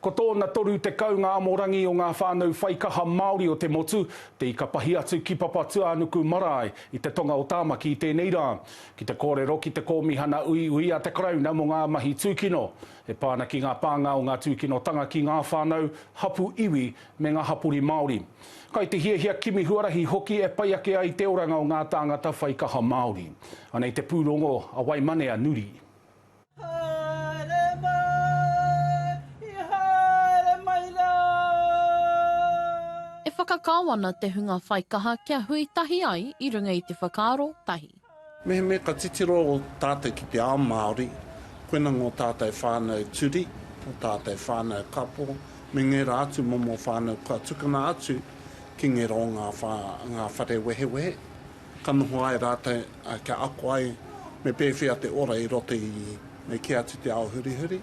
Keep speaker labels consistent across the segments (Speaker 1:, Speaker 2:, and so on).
Speaker 1: Ko tōna 30 ngā amorangi o ngā whānau whaikaha Māori o te motu, te ika pahi atu ki Papatūānuku marae i te tonga o Tāmaki i tēnei rā. Ki te kōrero ki te Kōmihana Uiui a te Karauna mō ngā mahi tūkino, e pā ana ki ngā pānga o ngā tūkinotanga ki ngā whānau, hapū iwi, me ngā hapori Māori. Kai te hiahia kimi huarahi hoki e pai ake ai te oranga o ngā tāngata whaikaha Māori. Anei te pūrongo a Waimane a Nuri. Haere mai, i
Speaker 2: haere mai rā. E whakakao ana te hunga whaikaha kia hui tahi ai i runga i te whakaaro tahi. Mehemea ka
Speaker 3: titiro tātou ki te ao Māori, koina ngō tātou whānau turi, ō tātou whānau kapo, me ngērā atu momo whānau kua tukuna atu ki ngērō ngā whare wehewehe. Ka noho ai rātou kia ako ai me pēwhea te ora i roto i me kī atu te ao hurihuri.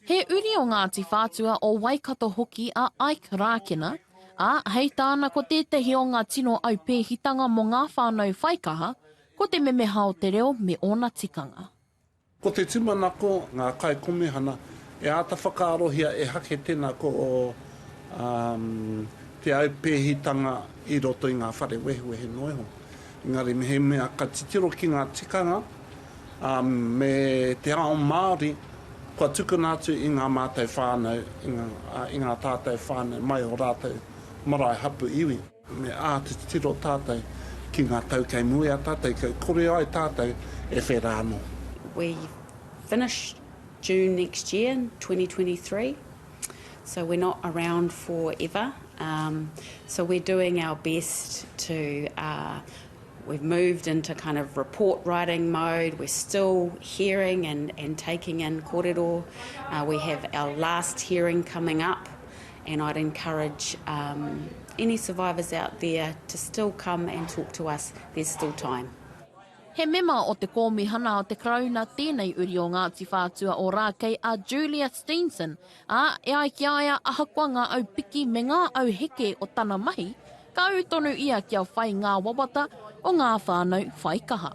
Speaker 3: He uri
Speaker 2: o Ngāti Whātua o Waikato hoki a Ike Rākena, ā, hei tāna ko tētahi o ngā tino aupēhitanga mō ngā whānau whaikaha ko te memeha o te reo me ōna tikanga. Ko te
Speaker 3: tūmanako, ngā kaikomihana e āta whakaarohia e hake tēnā ko te aupēhitanga i roto i ngā whare wehewehe noa iho. Engari mehemea ka titiro ki ngā tikanga me te ao Māori, kua tukuna atu i ngā mātou whānau, i ngā tātou whānau mai o rātou marae hapu iwi. Me āta titiro tātou ki ngā tau kei mua i a tātou, kia kore ai tātou e whera anō. We
Speaker 4: finish June next year, 2023, so we're not around for ever, so we're doing our best to, we've moved into kind of report writing mode, we're still hearing and taking in korero, we have our last hearing coming up And I'd encourage um, any survivors out there to still come and talk to us, there's still time. He mema
Speaker 2: o te kōmihana o te Karauna tēnei uri o Ngāti Whātua o Rākei a Julia Steenson, ā, e ai ki a ia ahakoa ngā au piki me ngā au heke o tana mahi, ka ū tonu ia kia whai ngā wawata o ngā whānau whaikaha.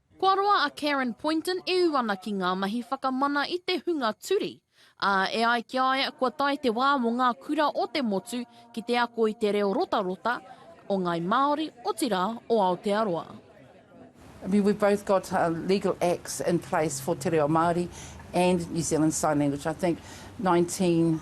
Speaker 5: Kua roa
Speaker 2: a Karen Poynton e ū ana ki ngā mahi whakamana i te hunga turi, ā, e ai ki a ia kua tae te wā mō ngā kura o te motu ki te ako i te reo rotarota o Ngāi Māori, otirā, o Aotearoa. I
Speaker 5: mean, we've both got legal acts in place for te reo Māori and New Zealand Sign Language. I think nineteen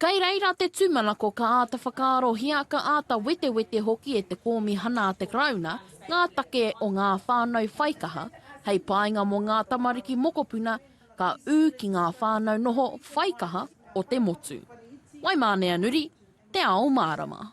Speaker 5: Kei reira
Speaker 2: te tūmanako ka āta whakaarohia, ka āta wetewete hoki e te Kōmihana a te Karauna ngā take o ngā whānau whaikaha hei painga mō ngā tamariki mokopuna ka ū ki ngā whānau noho whaikaha o te motu. Waimāneanuri, Te Ao Mārama.